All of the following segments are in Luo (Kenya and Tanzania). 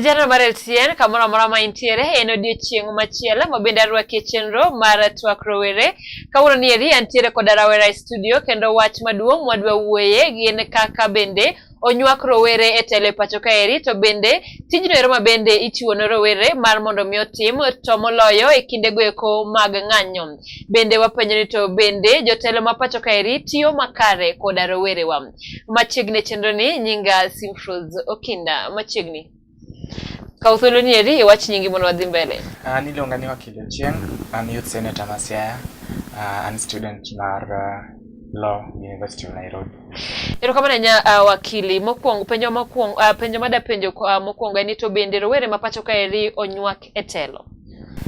Jana mar LTN kamoro amora ma intiere en odiechieng' machielo ma bende arwakie chenro mar twak rowere. Kawuono ni eri antiere koda rawera e studio kendo wach maduong' mwadwa wuoye gin kaka bende onywak rowere e telo e pacho kaeri to bende tijno ero ma bende ichiwo ne rowere mar mondo mi otim to moloyo e kinde goeko mag ng'anyo. Bende wapenjo ni to bende jotelo ma pacho kaeri tiyo makare koda rowerewa. Machiegni e chenro ni nyinga Simfroz Okinda. Machiegni. Kaw thuolo ni eri iwach nyingi mondo wadhi mbele. An ah, iluonga ni Wakili Ochieng', an youth senator ma Siaya, ah, an student mar ah, Law University of Nairobi. Erokamano nya uh, wakili mokwongo penjo mokwongo uh, penjo mada penjo uh, mokwongo en ni to bende rowere ma pacho ka eri onywak e telo.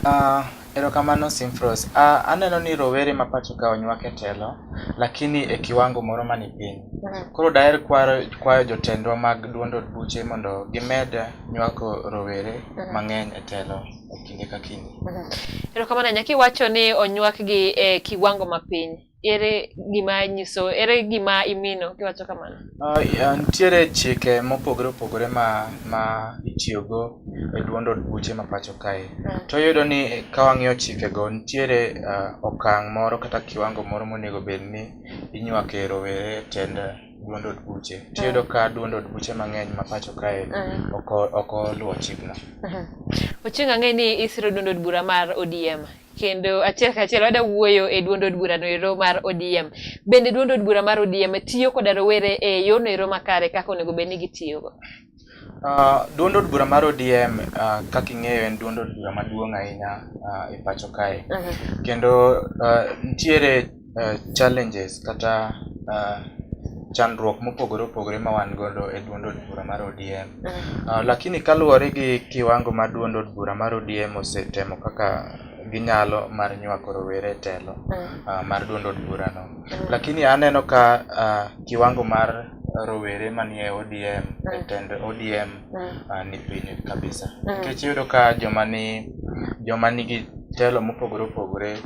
Uh, Erokamano Simfros. Uh, aneno ni rowere ma pacho ka onywak e telo lakini e kiwango moro mani piny. Mm. Koro daher kwaro, kwayo jotendwa mag duond od buche mondo gimed nywako rowere mm. mang'eny e telo e kinde ka kinde. Mm. Erokamano nyaki wacho ni onywakgi e kiwango mapiny. ere gima nyiso ere gima imino kiwacho kamano uh, yeah, nitiere chike mopogore opogore ma ma itiyogo e duond od buche ma pacho kae uh. to yudo ni ka wang'iyo chikego nitiere uh, okang' moro kata kiwango moro monego bed ni inywake rowere e tend duond od buche to yudo ka duond od buche mang'eny ma pacho kae ok oluwo chikno uh-huh. ochieng' ang'e ni isiro duond od bura mar odm kendo achiel kachiel wada wuoyo e duond od bura noero mar ODM. Bende duond od bura mar ODM tiyo koda rowere e yor noero makare kaka onego bed ni gitiyogo? Uh, duond od bura mar ODM uh, ah, kaka ing'eyo en duond od bura maduong' ahinya uh, e pacho kae. Uh mhm. -huh. Kendo uh, nitiere uh, challenges kata uh, chandruok mopogore opogore ma wan godo e duond od bura mar ODM. Uh, mm. ah, lakini kaluwore gi kiwango ma duond od bura mar ODM osetemo kaka ginyalo mar nywako rowere e telo uh, mar duond od burano. Uh, lakini aneno ka uh, kiwango mar rowere manie ODM e tend ODM uh, ni piny kabisa. Nikech iyudo ka joma ni joma nigi telo mopogore opogore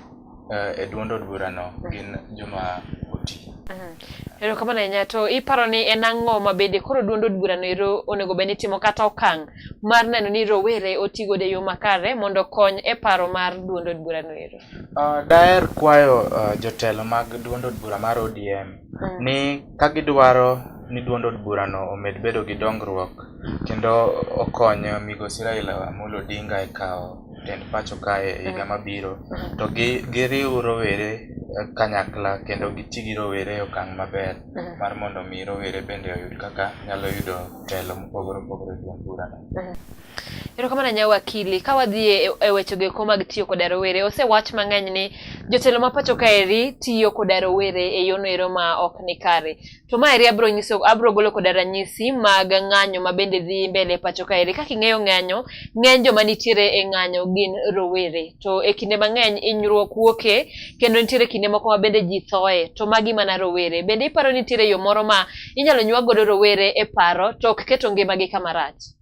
uh, e duond od burano mm. gin joma oti. Mm. Erokamano ahinya to iparo ni en ang'o ma bende koro duond od burano ero onego bed ni timo kata okang' mar neno ni rowere oti godo e yo makare mondo okony e paro mar duond od burano ero? Uh, daher kwayo uh, jotelo mag duond od bura mar ODM mm. ni ka gidwaro ni duond od burano omed bedo gi dongruok kendo okony migosi Raila Amolo Odinga e kawo tend pacho kae e higa mabiro to giriw rowere kanyakla kendo giti gi rowere e okang' maber mar mondo mi rowere bende oyud kaka nyalo yudo telo mopogore opogore e duond burano. Erokamano nya wakili, ka wadhi e, e wechego eko mag tiyo koda rowere, osewach mang'eny ni jotelo ma pacho kaeri tiyo koda rowere e yono ero ma ok ni kare. To ma eri abro nyiso abro golo koda ranyisi mag ng'anyo ma bende dhi mbele pacho ka eri. Kaka ing'eyo ng'anyo, ng'eny joma nitiere e ng'anyo gin rowere. To e kinde mang'eny inyruok wuoke kendo nitiere kinde moko ma bende ji thoe. To magi mana rowere. Bende iparo nitiere yo moro ma inyalo nywa godo rowere e paro to ok keto ngimagi kama rach?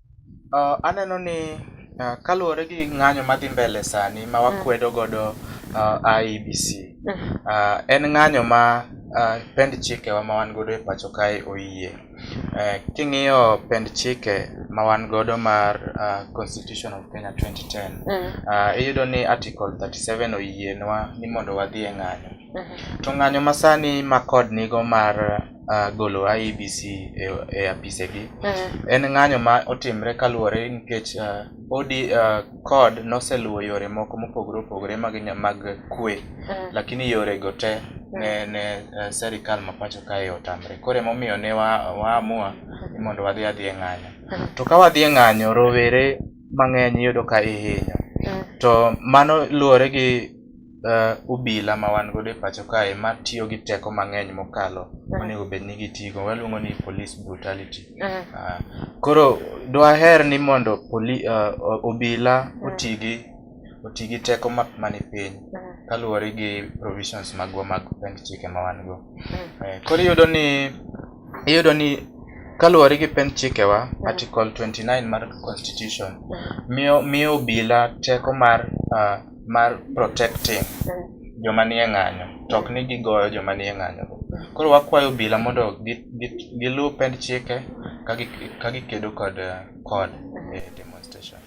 Uh, aneno ni uh, kaluwore gi ng'anyo madhi mbele sani ma wakwedo mm. godo uh, IEBC mm. uh, en ng'anyo ma uh, pend chikewa ma wan godo e pacho kae oyie. Uh, king'iyo pend chike ma wan godo mar uh, Constitution of Kenya 2010 mm. uh, iyudo ni Article 37 oyienwa ni mondo wadhi e ng'anyo. Mhm. To ng'anyo ma sani ma kod nigo mar uh, golo IEBC e, e apisegi mhm. en ng'anyo ma otimre kaluwore nikech uh, odi uh, kod noseluwo yore moko mopogore opogore mag, mag kwe mhm. lakini yore go te ne, ne uh, serikal ma pacho kae otamre koro emomiyo ne waamua wa ni mondo wadhi adhi e ng'anyo to ka wadhi e ng'anyo rowere mang'eny iyudo ka ihinyo to mano luwore gi uh, obila ma wan godo e pacho kae ma tiyo gi teko mang'eny mokalo uh-huh. onego bed ni gitigo waluongo ni police brutality uh-huh. uh, koro dwaher ni mondo poli, uh, obila uh-huh. oti gi oti gi teko ma, mani piny uh-huh. kaluwore gi provisions magwa mag pend chike ma wan go uh-huh. uh, koro iyudo ni iyudo ni kaluwore gi pend chikewa uh-huh. article 29 mar constitution uh-huh. miyo miyo obila teko mar uh, mar protecting joma nie ng'anyo to ok ni gigoyo joma nie ng'anyo koro wakwayo obila mondo giluw pend chike ka gikedo kod kod e demonstration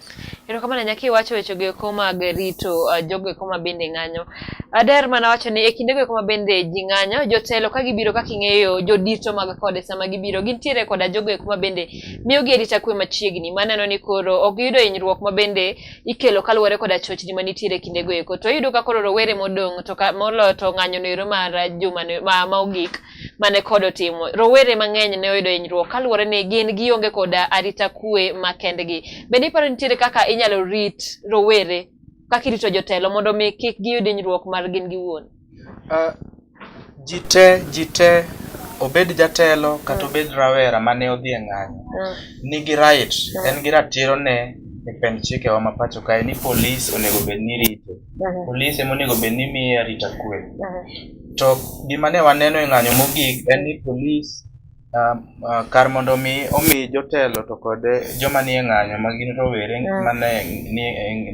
erokamano nyaka iwacho wechego eko mag rito uh, jogo eko ma bende ng'anyo ader mana wacho ni e kindego eko ma bende ji ng'anyo jotelo ka gibiro kaka ing'eyo jodito mag kode sama gibiro gintiere koda jogo eko ma bende miyogi arita kwe machiegni maneno ni koro ok giyudo hinyruok ma bende ikelo kaluwore koda chochni ma nitiere e kindego eko. To iyudo ka koro rowere modong' to ka moloyo to ng'anyo noero mar juma no- ma ma ogik mane kod otimo. Rowere mang'eny ne oyudo hinyruok kaluwore ni gin gionge koda arita kwe ma kendgi. Bende iparo ni nitiere kaka inyalo rit rowere kaka irito jotelo mondo mi kik giyud hinyruok mar gin giwuon? Ah, ji te ji te obed jatelo kata mm. obed rawera mane odhi e ng'anyo mm. nigi right mm. en gi ratiro ne e pend chikewa ma pacho kae ni polis onego bed ni rito mm-hmm. polis ema onego bed ni miye arita kwe mm-hmm. to gima ne waneno e ng'anyo mogik en ni polis Ah, ah, kar mondo mi omi jotelo to kod joma nie ng'anyo ma gin rowere mm. ma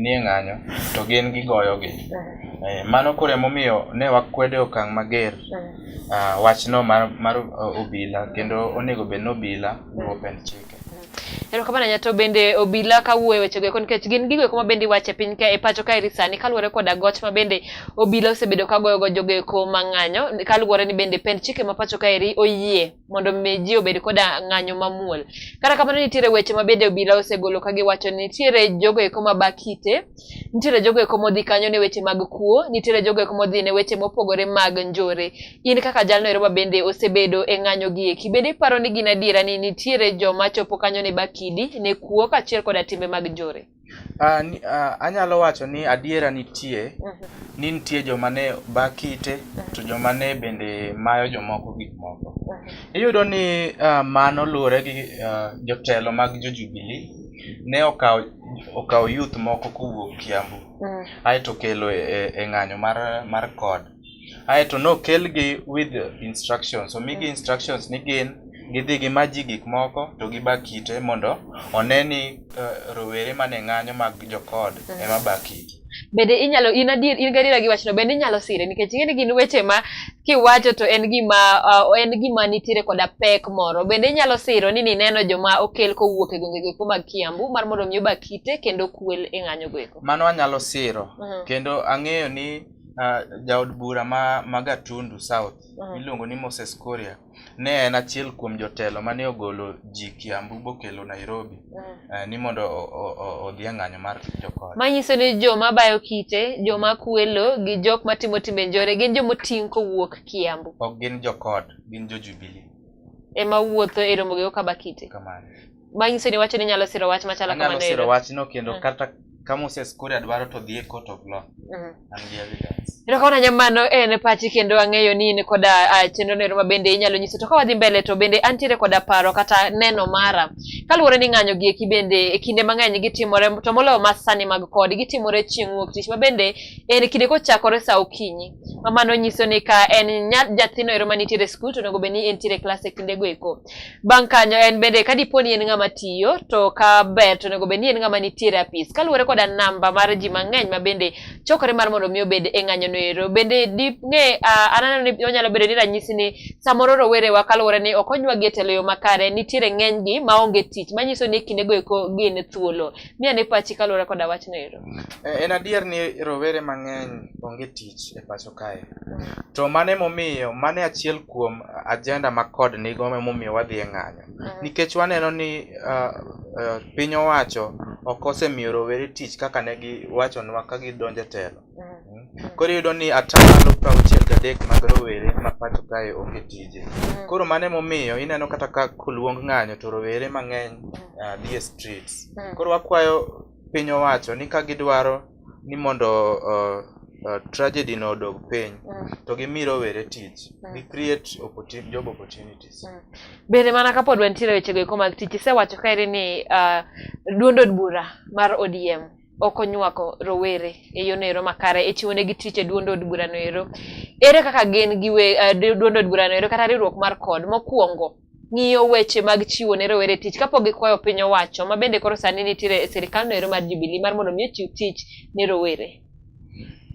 nie ng'anyo to gin gigoyogi. Mm. Eh, mano koro emomiyo ne wakwede okang' mager mm. ah, wachno mar obila kendo onego bed ni obila luwo pend chik. Erokamano nya to bende obila kawuoyo e wechego eko nikech gin gigo eko mabende iwacho e piny ka e pacho kaeri sani kaluwore koda goch mabende obila osebedo kagoyogo jogo eko mang'anyo kaluwore ni bende pend chike ma pacho kaeri oyie mondo mi ji obed koda ng'anyo mamuol. Kata kamano nitiere weche mabende obila osegolo kagiwacho ni nitiere jogo eko mabakite nitiere jogo eko modhi kanyo ne weche mag kuo nitiere jogo eko modhi ne weche mopogore mag njore in kaka jalno ero mabende osebedo e ng'anyo gi eki bende iparo ni gin adiera ni nitiere joma chopo kanyo ne bakidi ne kuo kaachiel koda timbe mag njore Uh, ni, uh, anyalo wacho ni adiera nitie mm -hmm. ni nitie joma ne bakite mm -hmm. to joma ne bende mayo jomoko gik moko mm -hmm. iyudo ni uh, mano luwore gi uh, jotelo mag jo Jubilee ne okawo okawo youth moko kowuok Kiambu mm. aeto kelo e, e, e ng'anyo mar mar kod aeto nokelgi with instructions omigi mm. instructions ni gin gidhi gimaji gik moko to giba kite mondo one ni uh, rowere mane ng'anyo mag jokod mm. ema ba kite bende inyalo in adier in gadiera gi wachno bende inyalo sire nikech ing'e ni gin weche ma kiwacho to en gima uh, en gima nitiere koda pek moro bende inyalo siro ni nineno joma okel kowuok e gwenge goeko mag Kiambu mar mondo mi oba kite kendo kwel e ng'anyo goeko mano anyalo siro uh mhm. -huh. kendo ang'eyo ni uh, jaod bura ma, ma Gatundu South uh mhm. -huh. iluongo ni Moses Koria Ne en achiel kuom jotelo mane ogolo ji Kiambu bokelo Nairobi mm. eh, ni mondo odhi e ng'anyo mar jokony. Manyiso ni joma bayo kite, joma kwelo gi jok matimo timbe njore gin joma oting' kowuok Kiambu. Ok gin jokod, gin jo Jubilee. Ema wuotho e romo gi Okabakite. Kamano. manyiso ni wacho ni nyalo siro wach machalo kamano anyalo siro wachno kendo mm. kata ka Moses Kuria dwaro to dhi e court of law mm. an gi evidence to kawana nyamano en pachi kendo ang'eyo ni in koda ah, chenro nero ma bende inyalo nyiso to ka wadhi mbele to bende antiere koda paro kata neno mara kaluwore ni ng'anyo gi eki bende e kinde mang'eny gitimore to moloyo ma sani mag kod gitimore chieng' wuok tich ma bende en kinde kochakore sa okinyi ma mano nyiso ni ka en nyathino ero manitiere e skul to onego bed ni entiere e klas e kindego eko Bang' kanyo en bende ka dipo ni en ng'ama tiyo to ka ber to onego bed ni en ng'ama nitiere apis kaluwore koda namba mar ji mang'eny ma bende chokore mar mondo mi obed e ng'anyono ero. Bende ding'e aneno ni onyalo bedo ni ranyisi ni samoro rowerewa kaluwore ni ok onyuagi e telo yo makare nitiere ng'enygi maonge tich manyiso ni e kindego eko gin thuolo. Mi ane pachi kaluwore koda wachno ero. Eh, en adier ni rowere mang'eny onge tich e pacho kae. To mane momiyo, mane achiel kuom ajenda ma kod nigo momiyo wadhi e ng'anyo. Mm. Nikech waneno ni uh, uh, piny owacho ok osemiyo rowere tich kaka ne giwachonwa ka gidonjo e telo. Mm. Koro iyudo ni atamalo prauchiel gadek mag rowere ma pacho kae onge tije. Mm. Koro mane momiyo ineno kata ka koluong ng'anyo to rowere mang'eny uh, dhi e streets. Mm. Koro wakwayo piny owacho ni ka gidwaro ni mondo uh, uh, tragedy no odog piny mm. to gimi rowere tich mm. gi create opportunity, job opportunities mm. bende mana kapod wantiere wechego eko mag tich isewacho kaeri ni uh, duond od bura mar odm ok onywako rowere e yono ero makare e chiwo negi tich e duond od burano ero ere kaka gin gi we, uh, duond od burano ero kata riwruok mar kod mokwongo ng'iyo weche mag chiwo ne rowere tich kapok gikwayo piny owacho ma bende koro sani nitiere e sirikal no ero mar Jubilee mar mondo mi ochiw tich ne rowere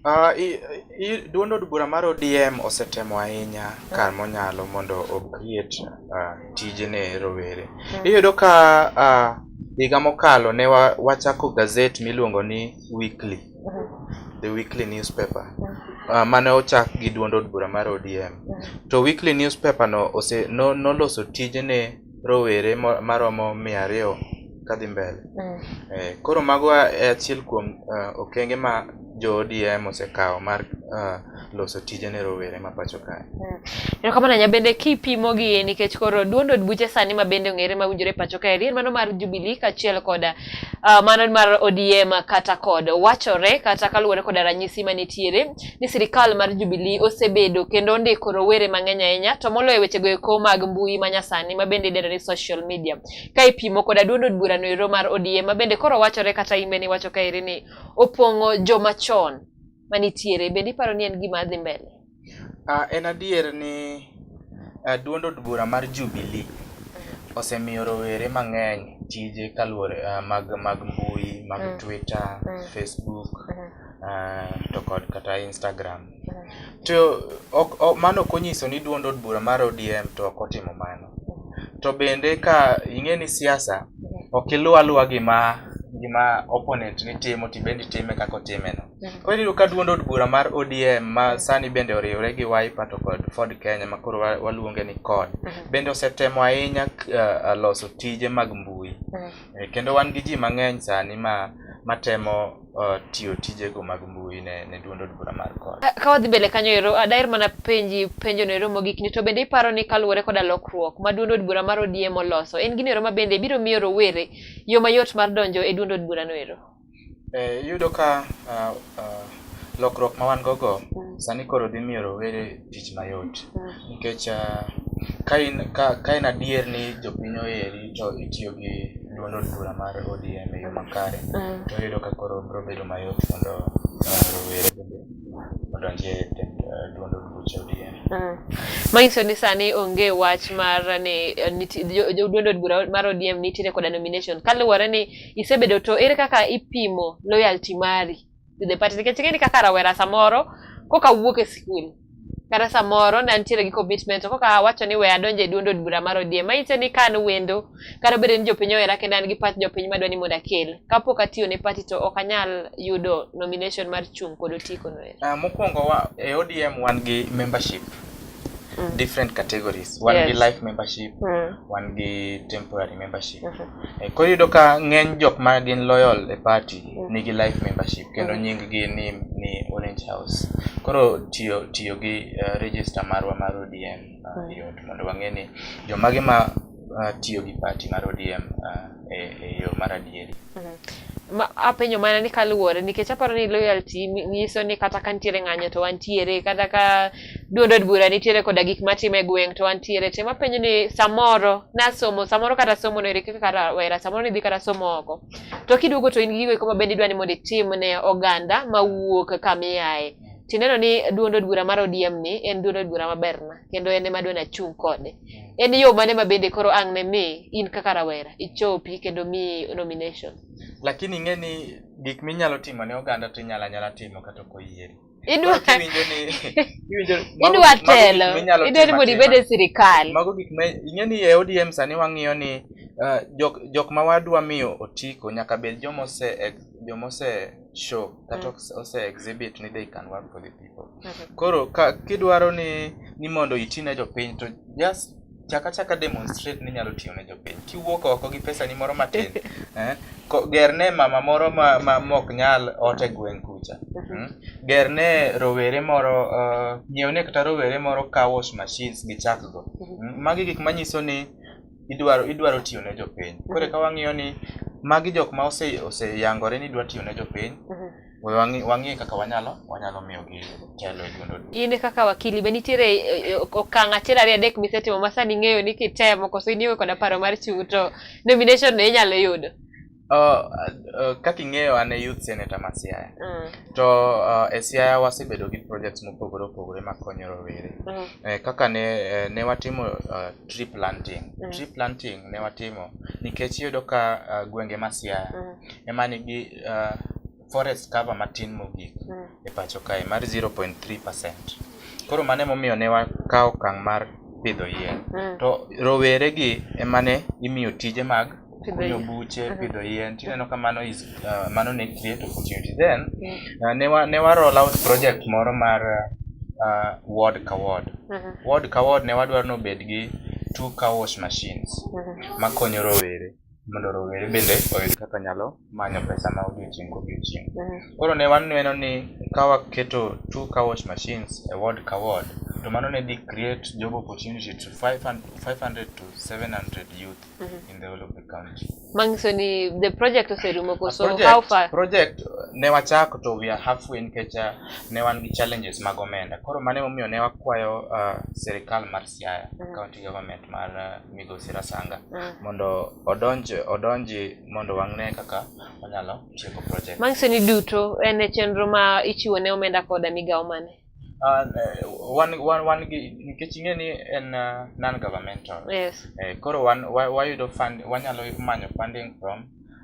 Uh, i, i, duond od bura mar ODM osetemo ahinya kar monyalo mondo okriet uh, ah, tijene rowere. Hmm. Iyudo ka uh, higa mokalo ne wa, wachako gazet miluongo ni Weekly, hmm. the weekly newspaper uh, mane ochak gi duond od bura mar ODM. Hmm. To weekly newspaper no ose, no, noloso tijene rowere maromo mia ariyo kadhi mbele. Mm. Eh, koro mago e achiel kuom uh, okenge ma jo ODM osekawo mar uh, loso tije ne rowere ma pacho kae. Mm. Erokamano ahinya bende kipimo gi nikech koro duond od buche sani ma bende ong'ere ma winjore pacho kaeri en mano mar Jubilee kaachiel koda Uh, mano mar ODM kata kod wachore kata kaluwore koda ranyisi manitiere ni sirikal mar Jubilee osebedo kendo ondiko rowere mang'eny ahinya to moloyo wechego eko mag mbui manyasani mabende idendo ni social media ka ipimo koda duond od burano ero mar ODM mabende koro wachore kata imbe ni wacho kaeri ni opong'o joma chon manitiere bende iparo ni en gima dhi mbele uh, en adier ni uh, duond od bura mar Jubilee osemiyo rowere mang'eny tije kaluwore uh, mag mag mbui mag mm. Twitter mm. Facebook mm -hmm. uh, to kod kata Instagram mm -hmm. to ok, ok, mano ok onyiso ni duond od bura mar ODM to ok otimo mano mm. to bende ka ing'e ni siasa ok iluw aluwa gima gima opponent ni timo to ibende itime kaka otimeno. Mm. Koro iyudo ka duond od bura mar ODM ma mm. sani bende oriwre gi Wiper to kod Ford Kenya ma koro waluonge ni CORD mm-hmm. bende osetemo ahinya uh, loso tije mag mbui mm. eh, kendo wan gi ji mang'eny sani ma matemo uh, tiyo tijego mag mbui ne, ne duond od bura mar kod Ka- ka wadhi mbele kanyo ero ah, daher mana penji penjo no ero mogik ni to bende iparo ni kaluwore koda lokruok ma duond od bura mar ODM oloso en gino ero ma bende biro miyo rowere yo mayot mar donjo e duond od bura no ero Eh, iyudo ka ah, ah, lokruok ma wan gogo sani koro dhi miyo rowere tich mayot mm. nikech ah, ka in ka ka in adier ni jopiny oheri to itiyo gi duond od bura mar ODM e yo makare mm. to yudo ka koro biro bedo mayot mondo ah, rowere bende odonjie duond od buch ODM. Mm. Manyiso ni sani onge wach mar ni eh, duond od bura mar ODM nitiere koda nomination kaluwore ni isebedo to ere kaka ipimo loyalty mari Dhi pati nikech ing'e ni kaka rawera samoro koka wuok e skul kata samoro ne antiere gi commitment to koka wacho ni we adonje duond od bura mar ODM manyise ni ka an wendo kata obedo ni jopiny ohera kendo an gi pat jopiny madwa ni mondo akel kapok atiyo ne party to ok anyal yudo nomination mar chung' kod otiko no ero. Uh, mokwongo wa, e ODM wan gi membership mm. different categories wan yes. gi life membership mm. wan gi temporary membership mm -hmm. Eh, koro iyudo ka ng'eny jok ma gin loyal e party mm. nigi life membership kendo mm. nying gi ni, ni orange house koro tiyo tiyo gi uh, register marwa mar odm uh, mm. yot mondo wang'e ni jomage ma uh, tiyo gi party mar odm uh, e, e yo mar adieri mm-hmm. ma, apenyo mana ni kaluwore nikech aparo ni loyalty nyiso ni kata ka nitiere ng'anyo to wantiere kata ka Duond od bura nitiere koda gik matimo e gweng' to antiere te mapenjo ni samoro nasomo samoro kata somo no irikiki kata wera samoro nidhi kata somo oko to kiduogo to in gi gigo eko mabende idwa ni mondo itim ne oganda mawuok kamiaye tineno ni duond od bura mar ODM ni en duond od bura maberna kendo en ema adwani achung' kode en yo mane mabende koro ang' ne mi in kaka rawera ichopi kendo mi nomination lakini ing'e ni gik minyalo timo ne oganda to inyalo anyala timo kata ok oyieri idwa idwa telo idwa ni mondo ibed e sirikal mago gik ma ing'e ni e ODM sani wang'iyo ni uh, jok jok ma wadwa miyo otiko nyaka bed joma ose joma ose show kata mm. ose exhibit ni they can work for the people mm-hmm. koro ka kidwaro ni ni mondo itine jopiny to just chaka chaka demonstrate ni nyalo tiyo ne jopiny kiwuok oko gi pesa ni moro matin eh? ger ne mama moro ma, ma mok nyal ote gweng' kucha hmm? ger ne rowere moro uh, eh, nyiew ne kata rowere moro car wash machines gi chak go hmm? magi gik manyiso ni idwaro idwaro tiyo ne jopiny kore ka wang'iyo ni magi jok ma oseyangore ose ni idwa tiyo ne jopiny wang'e kaka wanyalo wanyalo miyogi telo e dundo. In kaka wakili be nitiere eh, eh, okang' achiel ariyo adek misetimo ma sani ing'eyo ni kitemo koso in iwe koda paro mar chung' to nomination no inyalo yudo? Uh, uh, kaka ing'eyo an e youth senator ma Siaya mm. to uh, e Siaya wasebedo gi projects mopogore opogore makonyo rowere mm. eh, kaka ne, eh, ne watimo uh, tree planting mm. tree planting ne watimo nikech iyudo ka uh, gwenge ma Siaya mm. ema nigi uh, forest cover matin mogik mm. e pacho kae mar 0.3%. Koro mane momiyo ne wakawo kang' mar pidho yien. Mm. To rowere gi ema ne imiyo tije mag kunyo buche, mm-hmm. pidho yien. Tineno ka mano is uh, mano ne create opportunity. Then mm. uh, ne wa ne wa roll out project moro mar uh, ward ka ward. Mm -hmm. Ward ka ward ne wadwaro nobed gi two car wash machines mm -hmm. makonyo rowere. mondo rowere bende oyud kaka nyalo manyo pesa ma odiochieng' kodiochieng'. Mm. Koro ne waneno ni ka waketo two car wash machines e ward ka ward, to mano ne dhi create job opportunity to 500 to 700 youth mm -hmm. in the whole of the county. Mangiso ni the project oserumo koso project, how far? Project ne wachako to we are halfway nikech uh, ne wan gi challenges mag omenda. Koro mane momiyo ne wakwayo uh, serikal mar Siaya mm. County Government mar eh, Migosi Rasanga mm. mondo odonj odonji mondo wang'ne kaka onyalo tieko project. Manyiso ni duto en e chenro ma ichiwo ne omenda koda migawo mane? Uh, wan, wan, wan gi nikech ing'e ni en uh, non governmental yes. eh, koro wan wayudo wa fund wanyalo manyo funding from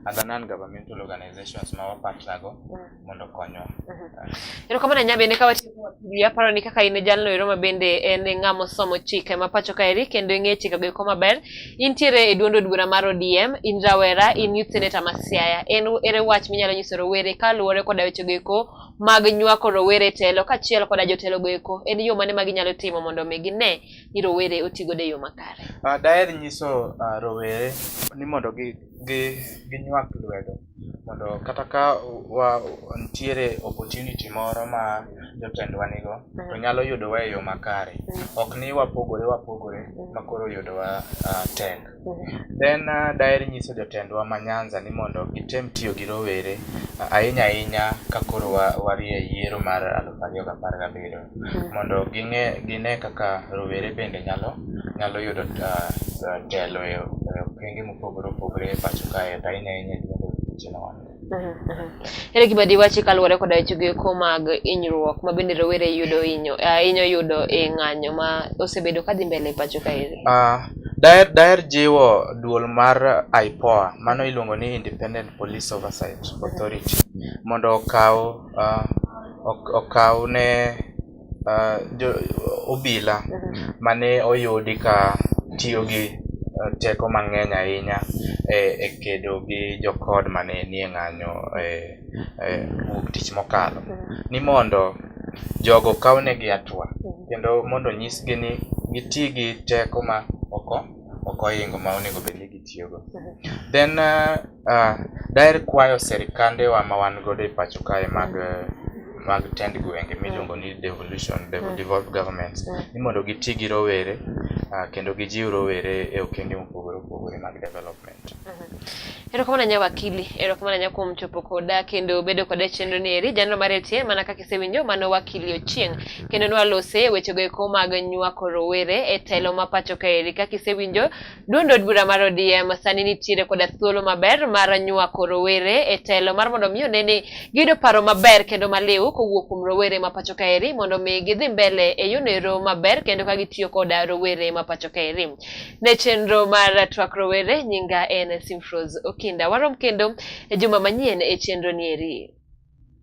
as a non-governmental organizations ma wapartnergo mm. mondo konywa. Mm-hmm. Erokamano nya bende ka watiyo aparo ni kaka in jalno ero ma bende en ng'ama osomo chike ma pacho ka eri kendo ing'e chike go eko maber. Intiere e duond od bura mar ODM, in rawera, in youth senator ma Siaya. En ere wach minyalo nyiso rowere kaluwore koda weche go eko mag nywako rowere e telo kachiel koda jotelo go eko. En yo mane ma ginyalo timo mondo mi gine ni rowere otigo de yo makare. Uh, daher nyiso uh, rowere ni mondo gi gi ginywak lwedo mondo kata ka wa nitiere opportunity moro ma jotendwa nigo to mm. nyalo yudowa e yo makare mm. ok ni wapogore wapogore mm. ma koro yudowa uh, tek then uh, daher nyiso jotendwa ma nyanza ni mondo gitem tiyo gi rowere uh, ahinya ahinya ka koro warie yiero mar aluf ariyo gi apar gabiriyo mondo ging'e gine kaka rowere bende nyalo nyalo yudo uh, telo e okenge mopogore opogore e pacho kae to ahinya ahinya Ere gima diwachi kaluwore koda wechego eko mag hinyruok ma bende rowere yudo hinyo eh, hinyo yudo e ng'anyo ma osebedo ka dhi mbele e pacho kaeri? Uh, ah, daher daher jiwo duol mar IPOA mano iluongo ni Independent Police Oversight Authority mondo okaw uh, okaw ne uh, jo, obila mhm. mane oyudi ka tiyo gi uh, teko mang'eny ahinya e, e kedo gi jokod mane nie ng'anyo e, e wuok tich mokalo mhm. ni mondo jogo kawnegi atua mhm. kendo mondo nyisgi ni giti gi teko ma oko oko ohingo ma onego bed ni gitiyogo then uh, Uh, daher kwayo sirikandewa ma wan godo e pacho kae mag mag tend gwenge mm. miluongo ni devolution mm. devolved governments mm. ni mondo giti gi rowere uh, kendo gijiw rowere e okenge mopogore opogore mag development. Mm-hmm. Erokamano nya wakili, erokamano nya kuom chopo koda kendo bedo koda e chenro ni eri jano mar etie mana kaka isewinjo mano wakili Ochieng kendo nwalose wechego eko mag nywako rowere e telo ma pacho ka eri kaka isewinjo Duond od bura mar ODM sani nitiere koda thuolo maber mar nywako rowere e telo mar mondo mi one ni giyudo paro maber kendo maliw kowuok kuom rowere ma pacho kaeri mondo mi gidhi mbele e yonero maber kendo ka gitiyo koda rowere ma pacho kaeri. Ne chenro mar twak rowere nyinga en Simfros Okinda. Warom kendo e juma manyien e chenro nieri.